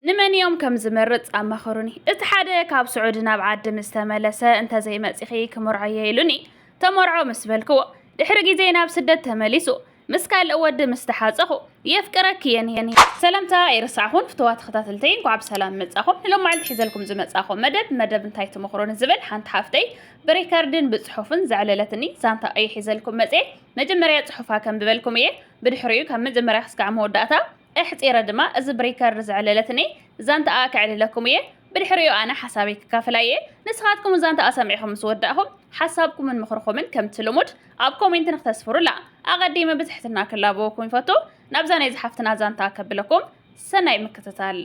ንመን እዮም ከም ዝመርጽ ኣማኸሩኒ። እቲ ሓደ ካብ ስዑዲ ናብ ዓዲ ምስ ተመለሰ እንተዘይመጺኺ ክምርዖ እየ ኢሉኒ። ተመርዖ ምስ በልክዎ ድሕሪ ግዜ ናብ ስደት ተመሊሱ ምስ ካልእ ወዲ ምስ ተሓጸኹ የፍቅረኪ እየ ሰላምታ ኣይረሳዕኹን ፍተዋ ተኸታተልተይ እንኳዕ ብሰላም መጻኹም ንሎም መዓልቲ ሒዘልኩም ዝመጻኹ መደብ መደብ እንታይ ትመኽሮኒ ዝብል ሓንቲ ሓፍተይ ብሪከርድን ብጽሑፍን ዘዕለለትኒ ዛንታ እየ ሒዘልኩም መጽኤ መጀመርያ ጽሑፋ ከንብበልኩም እየ ብድሕሪኡ ካብ መጀመርያ ክስካዕ መወዳእታ ኣሕጺረ ድማ እዚ ብሪከርድ ዘዕለለትኒ ዛንታኣ ከዕልለኩም እየ። ብድሕሪኡ ኣነ ሓሳበይ ክካፍላ እየ። ንስኻትኩም ዛንታኣ ሰሚዕኹም ምስ ወዳእኹም ሓሳብኩምን ምኽርኹምን ከምቲ ልሙድ ኣብ ኮሜንቲ ንክተስፍሩላ ኣቐዲመ ብትሕትና ክላበወኩም ይፈቱ። ናብዛ ናይዛ ሓፍትና ዛንታ ከብለኩም። ሰናይ ምክትታል።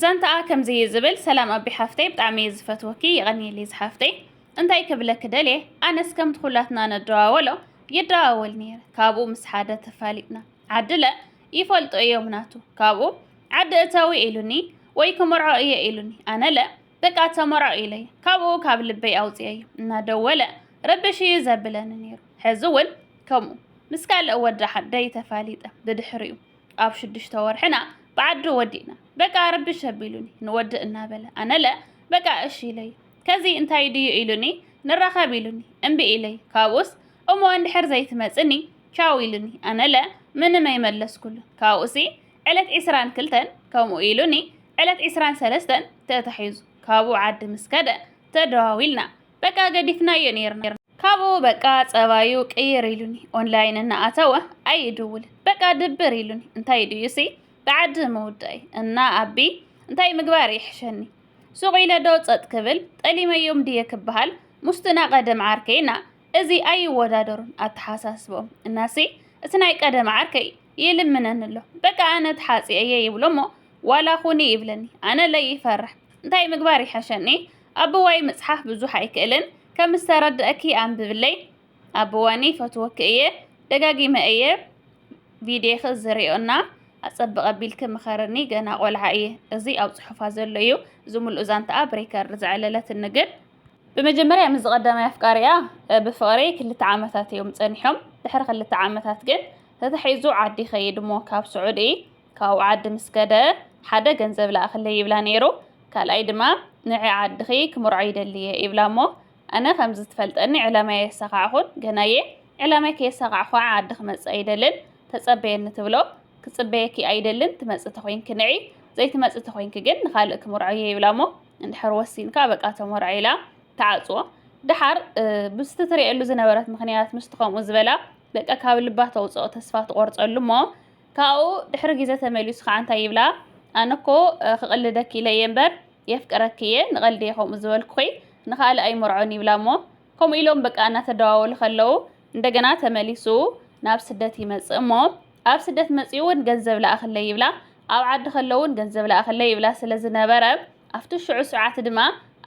ዛንታኣ ከምዚ እዩ ዝብል፣ ሰላም ኣቢ ሓፍተይ ብጣዕሚ እየ ዝፈትወኪ የቐንየለይ ዝሓፍተይ። እንታይ ክብለኪ ደልየ ኣነስ ከምቲ ኩላትና ንደዋወሎ ይደዋወል ነይረ ካብኡ ምስ ሓደ ተፋሊጥና። ዓድለ ይፈልጦ እዮም ናቱ ካብኡ ዓዲ እተዊ ኢሉኒ ወይ ክመርዖ እየ ኢሉኒ ኣነለ በቃ ተመርዖ ኢለይ ካብኡ ካብ ልበይ ኣውፅኤዩ እናደወለ ረብሽ እዩ ዘብለኒ ነይሩ ሕዚ እውን ከምኡ ምስ ካልእ ወዲ ዓደይ ተፋሊጠ ብድሕሪኡ ኣብ ሽዱሽተ ወርሕና ብዓዱ ወዲእና በቃ ረብሽ ኣቢሉኒ ንወዲ እናበለ ኣነለ በቃ እሺ ኢለይ ከዚ እንታይ ድዩ ኢሉኒ ንራኸብ ኢሉኒ እምቢ ኢለይ ካብኡስ እሞ እንድሕር ዘይትመፅኒ ቻው ኢሉኒ ኣነለ ምንም ኣይመለስኩሉን ካብኡሲ ዕለት ዕስራን ክልተን ከምኡ ኢሉኒ ዕለት ዕስራን ሰለስተን ተታሒዙ ካብኡ ዓዲ ምስ ከደ ተደዋዊልና በቃ ገዲፍናዮ ነይርና ካብኡ በቃ ጸባዩ ቅይር ኢሉኒ ኦንላይን እናኣተወ ኣይድውልን በቃ ድብር ኢሉኒ እንታይ ድዩሲ ብዓዲ ምውዳይ እና ኣቢ እንታይ ምግባር ይሕሸኒ ሱቕ ኢለዶ ጸጥ ክብል ጠሊመዮም ድየ ክበሃል ሙስትና ቀደም ዓርከይና እዚ ኣይወዳደሩን ኣተሓሳስብኦም እናሲ እቲ ናይ ቀደም ዓርከይ ይልምነኒ ኣሎ በቃ ኣነ ተሓጺ እየ ይብሎ እሞ ዋላ ኹኒ ይብለኒ ኣነ ለይ ይፈርሕ እንታይ ምግባር ይሐሸኒ ኣቦዋይ ምጽሓፍ ብዙሕ ኣይክእልን ከም ዝተረድአኪ ኣንብብለይ ኣቦዋኒ ይፈትወኪ እየ ደጋጊመ እየ ቪድዮኺ ዝሪኦ እና ኣጸብቕ ኣቢልኪ ምኸርኒ ገና ቆልዓ እየ እዚ ኣብ ጽሑፋ ዘሎ እዩ ዝምልኡ ዛንታኣ ብሪከርድ ዘዕለለትኒ ግን ብመጀመርያ ምስዚ ቀዳማይ ኣፍቃሪኣ ብፍቕሪ ክልተ ዓመታት እዮም ጸኒሖም። ድሕሪ ክልተ ዓመታት ግን ተታሒዙ ዓዲ ይኸይድ እሞ ካብ ስዑዲ ካብኡ ዓዲ ምስ ከደ ሓደ ገንዘብ ለኣኽለይ ይብላ ነይሩ፣ ካልኣይ ድማ ንዒ ዓድኺ ክምርዖ ይደሊ እየ ይብላ እሞ ኣነ ከምዚ ትፈልጠኒ ዕላማይ ኣየሳኻዕኹን ገና እየ ዕላማይ ከየሳኻዕኹ ከዓ ዓዲ ክመጽእ ኣይደልን ተጸበየኒ ትብሎ፣ ክጽበየኪ ኣይደልን ትመጽእ ተኾይንኪ ንዒ ዘይትመጽእ ተኾይንኪ ግን ንኻልእ ክምርዖ እየ ይብላ እሞ እንድሕር ወሲንካ በቃ ተሞርዐ ኢላ ትዓጽዎ። ደሓር ምስቲ ትርእየሉ ዝነበረት ምኽንያት ምስቲ ከምኡ ዝበላ በቃ ካብ ልባ ተውጽኦ ተስፋ ትቖርጸሉ እሞ ካብኡ ድሕሪ ግዜ ተመሊሱ ከዓ እንታይ ይብላ ኣነ እኮ ክቕልደኪ ኢለ እየ እምበር የፍቅረኪ እየ ንቐልዲ እየ ከምኡ ዝበልኩኺ ንኻልእ ኣይመርዖን ይብላ እሞ ከምኡ ኢሎም በቃ እናተደዋወሉ ከለዉ እንደገና ተመሊሱ ናብ ስደት ይመጽእ እሞ ኣብ ስደት መጺኡ እውን ገንዘብ ለኣኽለይ ይብላ ኣብ ዓዲ ከለዉ እውን ገንዘብ ለኣኽለይ ይብላ ስለ ዝነበረ ኣብቲ ሽዑ ሰዓት ድማ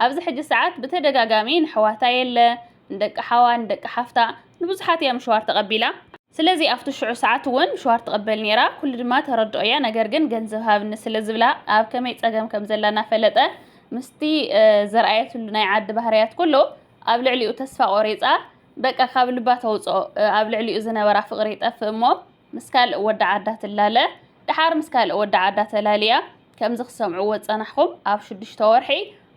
ኣብዚ ሕጂ ሰዓት ብተደጋጋሚ ንሕዋታ የለ ንደቂ ሓዋ ንደቂ ሓፍታ ንብዙሓት እያ ምሸዋር ተቐቢላ ስለዚ ኣብቲ ሽዑ ሰዓት እውን ምሸዋር ትቕበል ነይራ ኩሉ ድማ ተረድኦ እያ ነገር ግን ገንዘብ ሃብኒ ስለ ዝብላ ኣብ ከመይ ጸገም ከም ዘላ እናፈለጠ ምስቲ ዘርኣየትሉ ናይ ዓዲ ባህርያት ኩሉ ኣብ ልዕሊኡ ተስፋ ቆሪጻ በቃ ካብ ልባ ተውፅኦ ኣብ ልዕሊኡ ዝነበራ ፍቕሪ ይጠፍእ እሞ ምስ ካልእ ወዲ ዓዳ ትላለ ድሓር ምስ ካልእ ወዲ ዓዳ ተላልያ ከምዚ ክሰምዕዎ ዝፀናሕኹም ኣብ ሽዱሽተ ወርሒ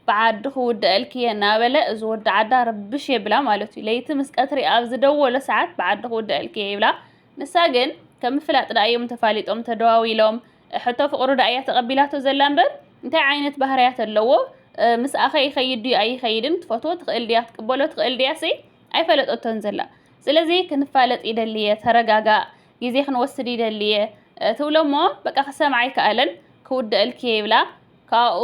ብዓዲ ክውድኣልኪ እየ እናበለ እዚ ወዲ ዓዳ ርብሽ የብላ ማለት እዩ ለይቲ ምስ ቀትሪ ኣብ ዝደወሎ ሰዓት ብዓዲ ክውድኣልኪ እየ ይብላ ንሳ ግን ከም ምፍላጥ ድኣ እዮም ተፋሊጦም ተደዋዊሎም ሕቶ ፍቅሩ ደኣ እያ ተቀቢላቶ ዘላ እምበር እንታይ ዓይነት ባህርያት ኣለዎ ምስኣኸ ይኸይድ ድዩ ኣይኸይድን ትፈትዎ ትኽእል ድያ ትቅበሎ ትኽእል ድያሰይ ኣይፈለጠቶን ዘላ ስለዚ ክንፋለጥ ይደሊ እየ ተረጋጋእ ግዜ ክንወስድ ይደሊ እየ ትብሎ እሞ በቃ ክሰምዓ ኣይከኣለን ክውደአልኪ እየ ይብላ ካብኡ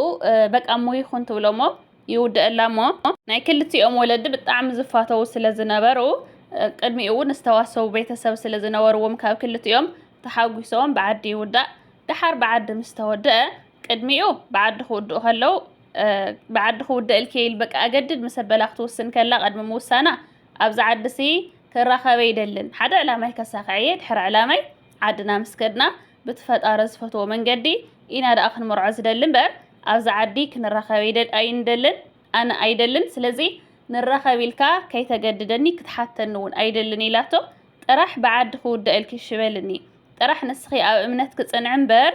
በቃ እሞ ይኹን ትብሎ እሞ ይውደአላ እሞ ናይ ክልቲኦም ወለዲ ብጣዕሚ ዝፋተዉ ስለ ዝነበሩ ቅድሚኡ እውን ዝተዋሰቡ ቤተሰብ ስለ ዝነበርዎም ካብ ክልቲኦም ተሓጒሶም ብዓዲ ይውዳእ፣ ደሓር ብዓዲ ምስ ተወድኣ፣ ቅድሚኡ ብዓዲ ክውድኡ ከለዉ፣ ብዓዲ ክውደእልኪ'የ ኢል በቃ ኣገድድ ምስ ኣበላ ክትውስን ከላ ቅድሚ ምውሳና ኣብዛ ዓዲሲ ክራኸብ ኣይደልን፣ ሓደ ዕላማይ ከሳኽዕ'የ፣ ድሕሪ ዕላማይ ዓድና ምስ ከድና ብቲ ፈጣሪ ዝፈትዎ መንገዲ ኢና ደኣ ክንመርዖ ዝደሊ እምበር ኣብዛ ዓዲ ክንራኸብ ኣይንደልን፣ ኣነ ኣይደልን፣ ስለዚ ንራኸብ ኢልካ ከይተገድደኒ ክትሓተኒ'ውን ኣይደልን ኢላቶ። ጥራሕ ብዓዲ ክውዳእ ኢልኪ እሺ በልኒ ጥራሕ ንስኺ ኣብ እምነትኪ ጽንዒ እምበር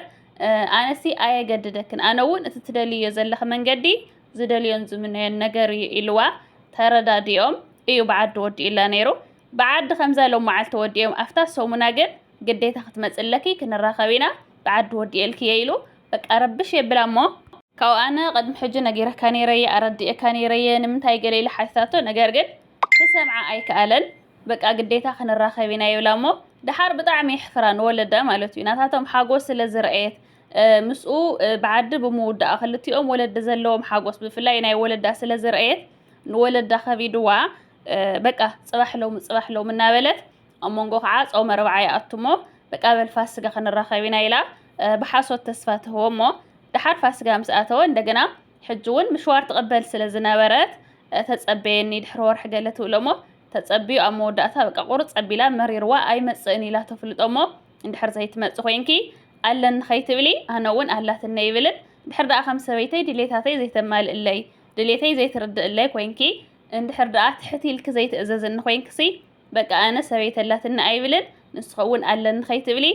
ኣነሲ ኣየገድደክን ኣነ እውን እቲ ትደልይዮ ዘለኺ መንገዲ ዝደልዮን ዝምነዮን ነገር እዩ ኢልዋ ተረዳዲኦም እዩ ብዓዲ ወዲኡላ ነይሩ ብዓዲ ከምዛ ሎም መዓልቲ ወዲኦም ኣፍታ ሰሙና ግን ግዴታ ክትመጽ ኣለኪ ክንራኸብ ኢና ብዓዲ ወዲኤልኪ እየ ኢሉ በቃ ረብሽ የብላ እሞ ካብኡ ኣነ ቅድሚ ሕጂ ነጊረካ ነይረ እየ ኣረዲኤካ ነይረ እየ ንምንታይ ገለ ኢለ ሓቲታቶ ነገር ግን ክሰምዓ ኣይከኣለን በቃ ግዴታ ክንራኸብ ኢና ይብላ እሞ ደሓር ብጣዕሚ የሕፍራ ንወለዳ ማለት እዩ ናታቶም ሓጎስ ስለ ዝረኣየት ምስኡ ብዓዲ ብምውዳኣ ክልቲኦም ወለዲ ዘለዎም ሓጎስ ብፍላይ ናይ ወለዳ ስለ ዝረኣየት ንወለዳ ከቢድዋ በቃ ፅባሕ ሎሚ ፅባሕ ሎሚ እናበለት ኣብ መንጎ ከዓ ፆመ ርብዓ ይኣቱ እሞ በቃ በል ፋስጋ ክንራኸብ ኢና ኢላ ብሓሶት ተስፋ ትህቦ እሞ ደሓር ፋስጋ ምስ ኣተወ እንደገና ሕጂ ውን ምሽዋር ትቕበል ስለ ዝነበረት ተጸበየኒ ድሕሪ ወርሒ ገለ ትብሎሞ ተጸብዩ ኣብ መወዳእታ በቃ ቁርጽ ኣቢላ መሪርዋ ኣይመጽእን ኢላ ተፍልጦሞ እንድሕር ዘይትመጽ ኮይንኪ ኣለኒ ከይትብሊ ኣነ ውን ኣላትኒ ይብልን ድሕር ደኣ ከም ሰበይተይ ድሌታተይ ዘይተማልእለይ ድሌተይ ዘይትርድእለይ ኮይንኪ እንድሕር ደኣ ትሕት ኢልኪ ዘይትእዘዝኒ ኮይንክሲ በቃ ኣነ ሰበይተይ ኣላትኒ ኣይብልን ንስኺ ውን ኣለኒ ከይትብሊ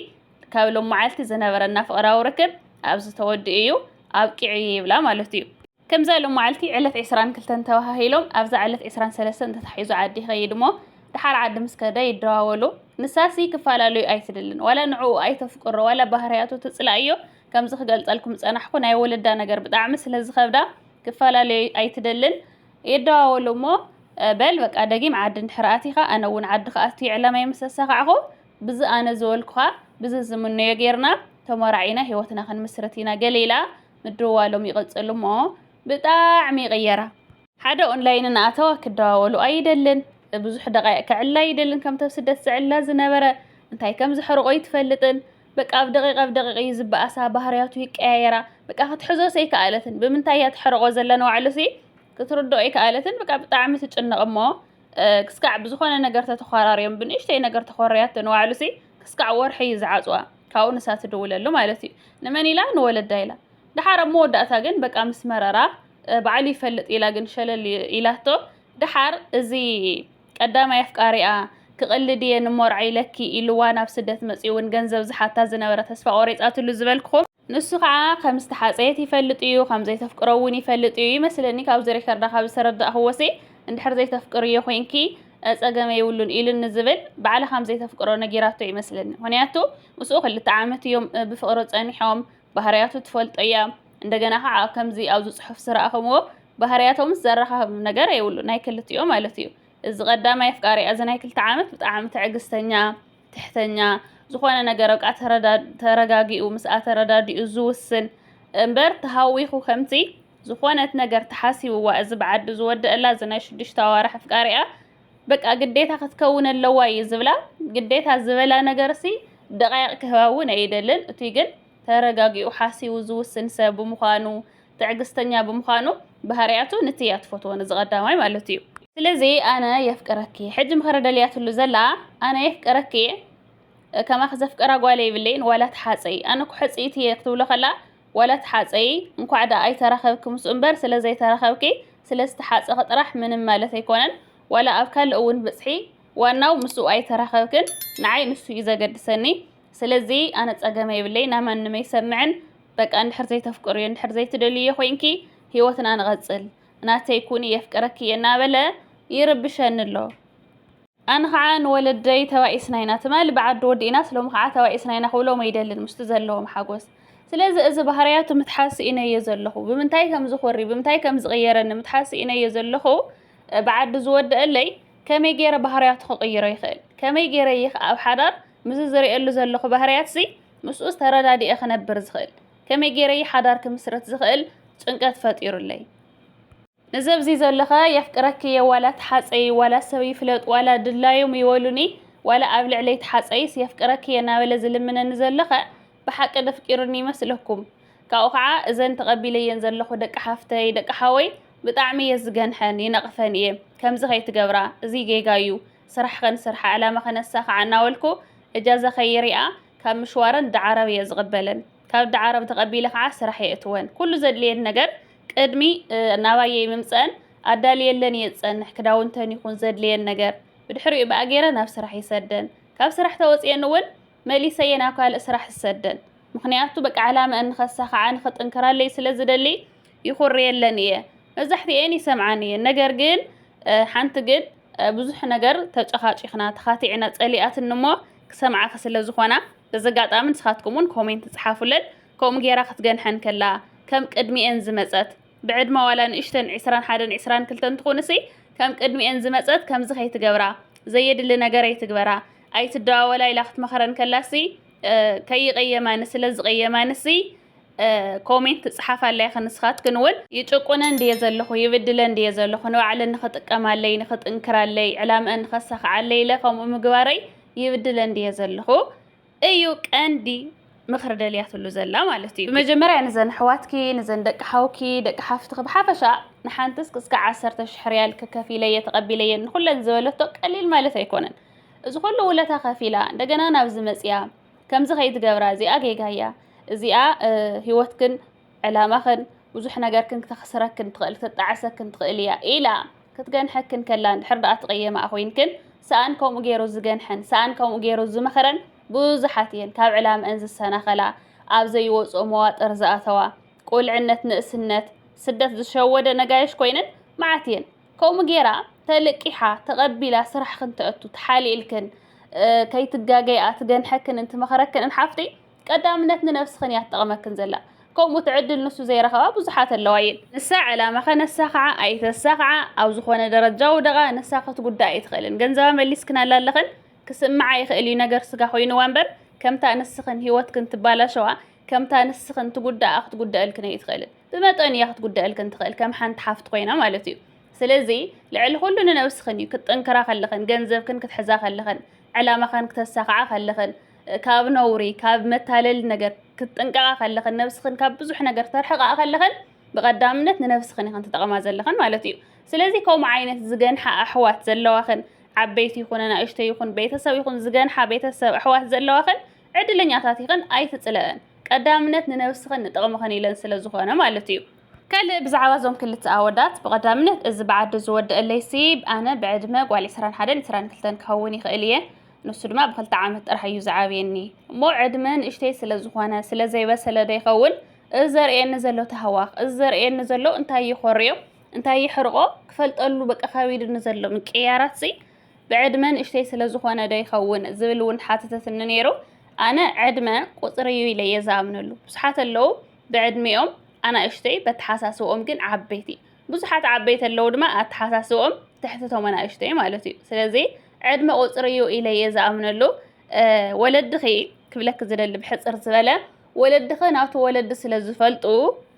ካብ ሎማዓልቲ ዝነበረና ፍቕራዊ ርክብ ኣብዚ ተወዲኡ እዩ ኣብቂዑ እየ ይብላ ማለት እዩ። ከምዛ ሎማዓልቲ ዕለት ዕስራን ክልተን ተባሃሂሎም ኣብዛ ዕለት ዕስራን ሰለስተን ተታሒዙ ዓዲ ይኸይድ እሞ ድሓር ዓዲ ምስ ከደ ይደዋወሉ። ንሳሲ ክፈላለዩ ኣይትደልን ዋላ ንዕኡ ኣይተፍቅሮ ዋላ ባህርያቱ ትፅላእዮ ከምዚ ክገልፀልኩም ዝፀናሕኩ ናይ ወለዳ ነገር ብጣዕሚ ስለዝኸብዳ ክፈላለዩ ኣይትደልን ይደዋወሉ እሞ በል በቃ ደጊም ዓዲ እንድሕር ኣቲኻ ኣነ እውን ዓዲ ክኣቱ እየ ዕላማይ ምስ ኣሳኻዕኹ ብዚ ኣነ ዝበልኩኻ ብዚ ዝምነዮ ጌርና ተሞራዒና ሂወትና ክንምስርት ኢና ገለ ኢላ ምድውዋሎም ይቕጽሉ እሞ ብጣዕሚ ይቕየራ። ሓደ ኦንላይን እናኣተወ ክደዋወሉ ኣይደልን፣ ብዙሕ ደቓይቕ ከዕልል ኣይደልን ከምቲ ኣብ ስደት ዝዕልላ ዝነበረ፣ እንታይ ከም ዘሕርቖ ኣይትፈልጥን፣ በቃ ኣብ ደቒቕ ኣብ ደቒቕ እዩ ዝበኣሳ፣ ባህርያቱ ይቀያየራ፣ በቃ ክትሕዞስ ኣይከኣለትን፣ ብምንታይ እያ ተሕርቖ ዘላ ንባዕሉሲ ክትርድኦ ኣይከኣለትን፣ በቃ ብጣዕሚ ትጭነቕ እሞ ክስካዕ ብዝኾነ ነገር ተተዃራርዮም ብንእሽተይ ነገር ተኾርያቶ ንባዕሉሲ ክስካዕ ወርሒ እዩ ዝዓፅዋ ካብኡ ንሳ ትድውለሉ ማለት እዩ ንመን ኢላ ንወለዳ ኢላ ደሓር ኣብ መወዳእታ ግን በቃ ምስ መረራ ባዕሉ ይፈልጥ ኢላ ግን ሸለል ኢላቶ ደሓር እዚ ቀዳማይ ኣፍቃሪኣ ክቕልድ እየ ንሞርዓ ኢለኪ ኢልዋ ናብ ስደት መፂኡ እውን ገንዘብ ዝሓታ ዝነበረ ተስፋ ቆሪፃትሉ ዝበልክኹም ንሱ ከኣ ከም ዝተሓጸየት ይፈልጥ እዩ ከም ዘይተፍቅሮ እውን ይፈልጥ እዩ ይመስለኒ ካብዚ ሪከርዳ ካብ ዝተረዳእክዎሲ እንድሕር ዘይተፍቅርዮ ኮይንኪ ጸገም የብሉን ኢሉን ንዝብል ባዕላ ከም ዘይተፍቅሮ ነጊራቶ እዩ ይመስለኒ ምክንያቱ ምስኡ ክልተ ዓመት እዮም ብፍቅሪ ጸኒሖም ባህርያቱ ትፈልጦ እያ እንደገና ከዓ ከምዚ ኣብዚ ጽሑፍ ዝረኣኹምዎ ባህርያቶምስ ዘራኻኽብ ነገር የብሉ ናይ ክልቲኦ ማለት እዩ እዚ ቀዳማይ ኣፍቃሪኣ እዚ ናይ ክልተ ዓመት ብጣዕሚ ትዕግስተኛ ትሕተኛ ዝኾነ ነገር በቃ ተረጋጊኡ ምስኣ ተረዳዲኡ ዝውስን እምበር ተሃዊኹ ከምቲ ዝኾነት ነገር ተሓሲብዋ እዚ ብዓዲ ዝወደአላ እዚ ናይ ሽዱሽተ ኣዋርሕ ኣፍቃሪኣ በቃ ግዴታ ክትከውን ኣለዋ እዩ ዝብላ ግዴታ ዝበላ ነገር ሲ ደቃይቅ ክህባ እውን ኣይደልን እቱይ ግን ተረጋጊኡ ሓሲቡ ዝውስን ሰብ ብምዃኑ ትዕግስተኛ ብምዃኑ ባህርያቱ ንቲ እያ ትፈትዎ ነዚ ቀዳማይ ማለት እዩ። ስለዚ ኣነ የፍቅረኪ ሕጂ ምኽሪ ደልያትሉ ዘላ ኣነ የፍቅረኪ ከማኺ ዘፍቀራ ጓል የብለይን ዋላ ተሓፀይ ኣነ እኮ ሕፅይቲ እየ ክትብሎ ከላ ዋላ ተሓፀይ እንኳዕ ደኣ ኣይተራኸብኪ ምስ እምበር ስለ ዘይተራኸብኪ ስለ ዝተሓፀኺ ጥራሕ ምንም ማለት ኣይኮነን ዋላ ኣብ ካልእ እውን ብፅሒ ዋናው ምስኡ ኣይተራኸብክን ንዓይ ንሱ እዩ ዘገድሰኒ ስለዚ ኣነ ጸገም የብለይ ናማንም ኣይሰምዕን በቃ እንድሕር ዘይተፍቅርዮ እንድሕር ዘይትደልዮ ኮይንኪ ሂወትና ንቐጽል ናተይ ኩኒ የፍቅረኪ እየ እናበለ ይርብሸኒ ኣሎ ኣነ ከዓ ንወለደይ ተባኢስና ኢና ትማሊ ብዓዲ ወዲእናስ ሎሚ ከዓ ተባኢስና ኢና ክብሎም ኣይደልን ምስቲ ዘለዎም ሓጎስ ስለዚ እዚ ባህርያቱ ምትሓዝ ስኢነዮ ዘለኹ ብምንታይ ከም ዝኾሪ ብምንታይ ከም ዝቕየረኒ ምትሓዝ ስኢነዮ ዘለኹ ብዓዲ ዝወደአለይ ከመይ ገይረ ባህርያቱ ክቕይሮ ይኽእል ከመይ ገይረ ይኽ ኣብ ሓዳር ምስዚ ዝርእየሉ ዘለኹ ባህርያት'ዚ ምስኡስ ተረዳዲኤ ክነብር ዝኽእል? ከመይ ገይረ'የ ሓዳር ክምስርት ዝኽእል? ጭንቀት ፈጢሩለይ። እዚ ኣብዚ ዘሎኸ የፍቅረኪ'የ ዋላ ተሓጸዪ፣ ዋላ ሰብ ይፍለጥ፣ ዋላ ድላዮም ይበሉኒ፣ ዋላ ኣብ ልዕለይ ተሓጸዪስ የፍቅረኪ'የ እናበለ ዝልምነኒ ዘሎኸ ብሓቂ ደፍቂሩኒ ይመስለኩም? ካብኡ ከኣ እዘን ተቐቢለየን ዘለኹ ደቂ ሓፍተይ፣ ደቂ ሓወይ ብጣዕሚ'የ ዝገንሐን ይነቕፈን'የ። ከምዚ ከይትገብራ፣ እዚ ጌጋ'ዩ፣ ስራሕ ከንስርሓ ዕላማ ከነሳኽዓ እናበልኩ እጃዛ ከይሪኣ ካብ ምሽዋረን ዳዓረብ እየ ዝቕበለን። ካብ ዳዓረብ ተቐቢለ ከዓ ስራሕ የእትወን። ኩሉ ዘድልየን ነገር ቅድሚ ናባየይ ምምፀኣን ኣዳልየለን እየ ዝፀንሕ፣ ክዳውንተን ይኹን ዘድልየን ነገር። ብድሕሪኡ ብኣ ገይረ ናብ ስራሕ ይሰደን። ካብ ስራሕ ተወፂኤን እውን መሊሰየን ኣብ ካልእ ስራሕ ዝሰደን ምኽንያቱ በቃ ዕላመኣን ንኸሳኽዓ ንኽጥንክራለይ ስለ ዝደሊ ይኹርየለን እየ መብዛሕትኤን ይሰምዓን እየን ነገር ግን ሓንቲ ግን ብዙሕ ነገር ተጨኻጪኽና ተኻቲዕና ጸሊኣትን እሞ ክሰምዓኺ ስለ ዝኾና በዚ ኣጋጣሚ ንስኻትኩም እውን ኮሜንት ጽሓፉለን ከምኡ ጌራ ክትገንሐን ከላ ከም ቅድሚኤን ዝመጸት ብዕድመ ዋላ ንእሽተን ዕስራን ሓደን ዕስራን ክልተን ትኹንሲ ከም ቅድሚኤን ዝመጸት ከምዚ ከይትገብራ ዘየድሊ ነገር ኣይትግበራ ኣይትደዋወላ ኢላ ክትመኽረን ከላሲ ከይቀየማኒ ስለ ዝቀየማንሲ ኮሜንት ትጽሓፋለይ ኢኺ ንስኻትክን እውን ይጭቁነን ድየ ዘለኹ ይብድለን ድየ ዘለኹ ንባዕለን ንኽጥቀማለይ ንኽጥንክራለይ ዕላምአን ንኸሳኽዓለይ ኢለ ከምኡ ምግባረይ ይብድለን ድየ ዘለኹ እዩ ቀንዲ ምኽሪ ደልያትሉ ዘላ ማለት እዩ። ብመጀመርያ ንዘን ኣሕዋትኪ ንዘን ደቂ ሓውኪ ደቂ ሓፍትኺ ብሓፈሻ ንሓንትስ ክስካዕ ዓሰርተ ሽሕ ሪያል ክከፊለየ ተቐቢለየን ንኹለን ዝበለቶ ቀሊል ማለት ኣይኮነን። እዚ ኩሉ ውለታ ከፊላ እንደገና ናብዚ መጽያ ከምዚ ከይትገብራ እዚኣ ጌጋያ እዚኣ ህይወትክን ዕላማኽን ብዙሕ ነገርክን ክተኽስረክን ትኽእል ክትጣዕሰክን ትኽእል እያ ኢላ ክትገንሐክን ከላ እንድሕር ደኣ ትቕየማኣ ኮይንክን ሰኣን ከምኡ ገይሩ ዝገንሐን ሰኣን ከምኡ ገይሩ ዝመኸረን ብዙሓት እየን ካብ ዕላምአን ዝሰናኸላ ኣብ ዘይወፅኦ መዋጥር ዝኣተዋ ቁልዕነት ንእስነት ስደት ዝሸወደ ነጋይሽ ኮይነን መዓት እየን ከምኡ ገይራ ተልቂሓ ተቐቢላ ስራሕክን ተእቱ ተሓሊእልክን ከይትጋገይኣ ትገንሐክን እንትመኸረክን ሓፍቲ ቀዳምነት ንነብስኽን እያ ትጠቕመክን ዘላ። ከምኡ ትዕድል ንሱ ዘይረኸባ ብዙሓት ኣለዋ እየን። ንሳ ዕላማ ከነሳኽዓ ኣይተሳኽዓ ኣብ ዝኾነ ደረጃ ውደቓ ንሳ ክትጉዳእ ኣይትኽእልን። ገንዘባ መሊስክናላ ኣለኽን ክስምዓ ይኽእል እዩ ነገር ስጋ ኮይንዋ እምበር ከምታ ንስኽን ህይወትክን ትባላሸዋ ከምታ ንስኽን ትጉዳኣ ክትጉደእልክን ኣይትኽእልን። ብመጠኑ እያ ክትጉደእልክን ትኽእል ከም ሓንቲ ሓፍቲ ኮይና ማለት እዩ። ስለዚ ልዕሊ ኩሉ ንነብስኽን እዩ ክትጥንክራ ከለኽን ገንዘብክን ክትሕዛ ከለኽን ዕላማኽን ክተሳኽዓ ከለኽን ካብ ነውሪ ካብ መታለሊ ነገር ክትጥንቀቓ ከለኽን ነብስኽን ካብ ብዙሕ ነገር ተርሕቓ ከለኽን ብቐዳምነት ንነብስኽን ኢኽን ትጠቕማ ዘለኽን ማለት እዩ ስለዚ ከምኡ ዓይነት ዝገንሓ ኣሕዋት ዘለዋኽን ዓበይቲ ይኹነ ናእሽተ ይኹን ቤተሰብ ይኹን ዝገንሓ ቤተሰብ ኣሕዋት ዘለዋኽን ዕድለኛታት ይኽን ኣይትጽለእን ቀዳምነት ንነብስኽን ንጥቕምኽን ኢለን ስለ ዝኾነ ማለት እዩ ካልእ ብዛዕባ እዞም ክልተ ኣወዳት ብቐዳምነት እዚ ብዓዲ ዝወደአለይ ስብ ኣነ ብዕድመ ጓል 21 22 ክኸውን ይኽእል እየ ንሱ ድማ ብክልተ ዓመት ጥራሕ እዩ ዝዓብየኒ እሞ ዕድመ ንእሽተይ ስለ ዝኾነ ስለ ዘይበሰለ ዶ ይኸውን እዚ ዘርእየኒ ዘሎ ተህዋኽ እዚ ዘርእየኒ ዘሎ እንታይ ይኾርዮ እንታይ ይሕርቆ ክፈልጠሉ በቃ ከቢድኒ ዘሎ ምቅያራት ሲ ብዕድመ ንእሽተይ ስለ ዝኾነ ዶ ይኸውን ዝብል እውን ሓተተትኒ ነይሩ ኣነ ዕድመ ቁፅሪ እዩ ኢለ እየ ዝኣምነሉ ብዙሓት ኣለዉ ብዕድሚኦም ኣናእሽተይ በተሓሳስብኦም ግን ዓበይቲ ብዙሓት ዓበይቲ ኣለዉ ድማ ኣተሓሳስብኦም ትሕቲ ቶም ኣናእሽቱ እዩ ማለት እዩ ስለዚ ዕድመ ቁፅሪ እዩ ኢለ እየ ዝኣምነሉ ወለድኺ ክብለኪ ዝደሊ ብሕፅር ዝበለ ወለድኺ ናቱ ወለዲ ስለ ዝፈልጡ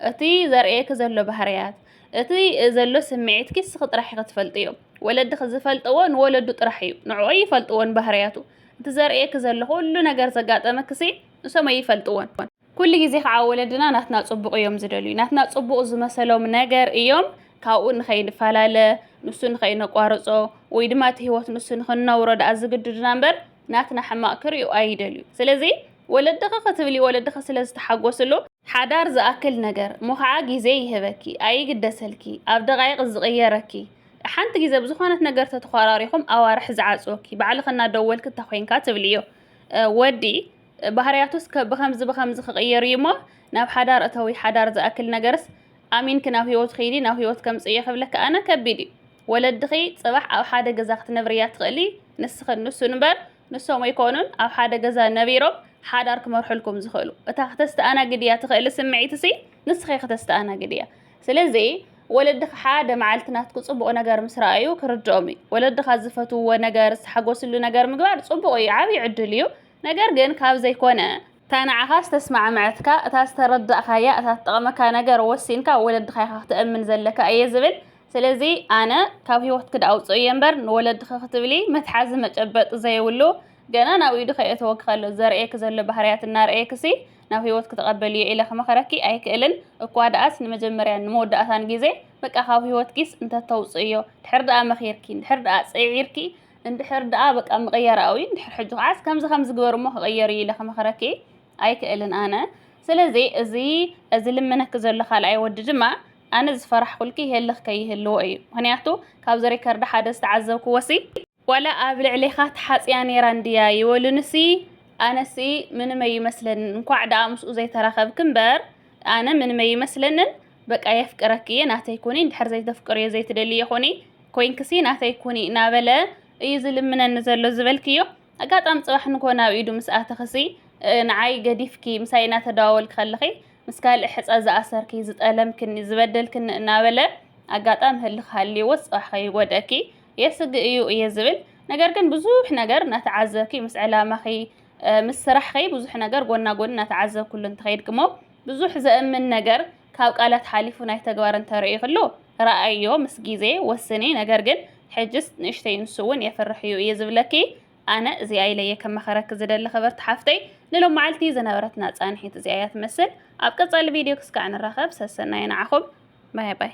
እቲ ዘርእየኪ ዘሎ ባህርያት እቲ ዘሎ ስምዒትኪ ንስኺ ጥራሕ ኢኺ ትፈልጥዮ ወለድኺ ዝፈልጥዎ ንወለዱ ጥራሕ እዩ ንዕኡ ይፈልጥዎን ባህርያቱ እቲ ዘርእየኪ ዘሎ ኩሉ ነገር ዘጋጠመኪሲ ንሶም ኣይፈልጥዎን ኩሉ ግዜ ከዓ ወለድና ናትና ጽቡቕ እዮም ዝደልዩ። ናትና ጽቡቕ ዝመሰሎም ነገር እዮም ካብኡ ንኸይንፈላለ፣ ንሱ ንኸይነቋርጾ ወይ ድማ እቲ ህይወት ንሱ ንኽንነብሮ ደኣ ዝግድዱና እምበር ናትና ሕማቕ ክርእዩ ኣይደልዩ። ስለዚ ወለድኺ ክትብሊ ወለድኺ ስለ ዝተሓጎስሉ ሓዳር ዝኣክል ነገር እሞ ከዓ ግዜ ይህበኪ ኣይግደሰልኪ ኣብ ደቓይቕ ዝቕየረኪ ሓንቲ ግዜ ብዝኾነት ነገር ተተኾራሪኹም ኣዋርሕ ዝዓጽወኪ ባዕልኺ እናደወልኪ እንተኾይንካ ትብልዮ ወዲ ባህርያቱስ ከ ብኸምዚ ብኸምዚ ክቕየር እዩሞ ናብ ሓዳር እተዊ ሓዳር ዝኣክል ነገርስ ኣሚንኪ ናብ ሂወቱ ኪዲ ናብ ሂወት ከምጽእዮ ክብለኪ ኣነ ከቢድ እዩ ወለድኺ ጽባሕ ኣብ ሓደ ገዛ ክትነብርያ ትኽእሊ ንስኽን ንሱን እምበር ንሶም ኣይኮኑን ኣብ ሓደ ገዛ ነቢሮም ሓዳር ክመርሑልኩም ዝኽእሉ እታ ክተስተኣናግድያ ትኽእሊ ስምዒትሲ ንስኺ ክተስተኣናግድያ ስለዚ ወለድኺ ሓደ መዓልቲ ናትኩ ጽቡቕ ነገር ምስ ረኣዩ ክርድኦም እዩ ወለድኻ ዝፈትውዎ ነገር ዝሓጎስሉ ነገር ምግባር ጽቡቕ እዩ ዓብዪ ዕድል እዩ ነገር ግን ካብ ዘይኮነ። እታ ንዓኻ ዝተስማዕመዐትካ፣ እታ ዝተረዳእካያ፣ እታ ትጠቕመካ ነገር ወሲንካ ወለድኻ ኢኻ ክተእምን ዘለካ እየ ዝብል። ስለዚ ኣነ ካብ ህይወትኪ ደኣ ኣውጽኦ እየ እምበር ንወለድኺ ክትብሊ መትሓዚ መጨበጢ ዘይብሉ ገና ናብ ኢዱ ከየእተወኪ ከሎ ዘርእየኪ ዘሎ ባህርያት እናርኣየኪሲ ናብ ህይወትኪ ተቐበልዮ ኢለ ክመኽረኪ ኣይክእልን። እኳ ደኣስ ንመጀመርያን ንመወዳእታን ግዜ በቃ ካብ ህይወትኪስ እንተተውጽእዮ። ድሕሪ ደኣ መኺርኪን ድሕሪ ደኣ ጽዒርኪ እንድሕር ደኣ በቃ ምቕያር ኣውዩ እንድሕር ሕጂ ከዓስ ከምዚ ከምዚ ግበር እሞ ክቕየር እዩ ኢለ ክመኽረኪ ኣይክእልን ኣነ ስለዚ እዚ እዚ ልምነኪ ዘሎ ካልኣይ ወዲ ድማ ኣነ ዝፈራሕኩልኪ ይህልኽ ከይህልዎ እዩ ምክንያቱ ካብዚ ሪከርድ ሓደ ዝተዓዘብክዎሲ ዋላ ኣብ ልዕሌኻ ተሓጽያ ነይራ እንድያ ይበሉንሲ ኣነሲ ምንም ኣይመስለንን እንኳዕ ደኣ ምስኡ ዘይተራኸብክ እምበር ኣነ ምንም ኣይመስለንን በቃ የፍቅረኪ እየ ናተይ ኩኒ እንድሕር ዘይተፍቅርዮ ዘይትደልዮ ኩኒ ኮይንክሲ ናተይ ኩኒ እናበለ እዩ ዝልምነኒ ዘሎ ዝበልክዮ ኣጋጣሚ ጽባሕ ንኮ ናብ ኢዱ ምስ ኣተኽሲ ንዓይ ገዲፍኪ ምሳይ እናተደዋወልኪ ከለኺ ምስ ካልእ ሕጸ ዝኣሰርኪ ዝጠለምክኒ ዝበደልክኒ እናበለ ኣጋጣሚ ህልኽ ሃልይዎ ጽባሕ ከይጎድእኪ የስግእ እዩ እየ ዝብል ነገር ግን ብዙሕ ነገር እናተዓዘብኪ ምስ ዕላማኺ ምስ ስራሕኺ ብዙሕ ነገር ጎና ጎኒ እናተዓዘብኩሉ እንተኸይድክሞ ብዙሕ ዘእምን ነገር ካብ ቃላት ሓሊፉ ናይ ተግባር እንተርእዩ ክሉ ራኣይዮ ምስ ግዜ ወስኒ ነገር ግን ሕጅስ ንእሽተይ ንሱ ውን የፍርሕ እዩ እየ ዝብለኪ ኣነ እዚኣ ኢለየ ከማክረኪ ዝደሊ ክብርቲ ሓፍተይ ንሎማዓልቲ ዝነበረትና ፃንሒት እዚኣ እያ ትመስል ኣብ ቀፃሊ ቪድዮ ክስካዕ ንራከብ ሰሰናዩ ናዓኩም ባይ ባይ።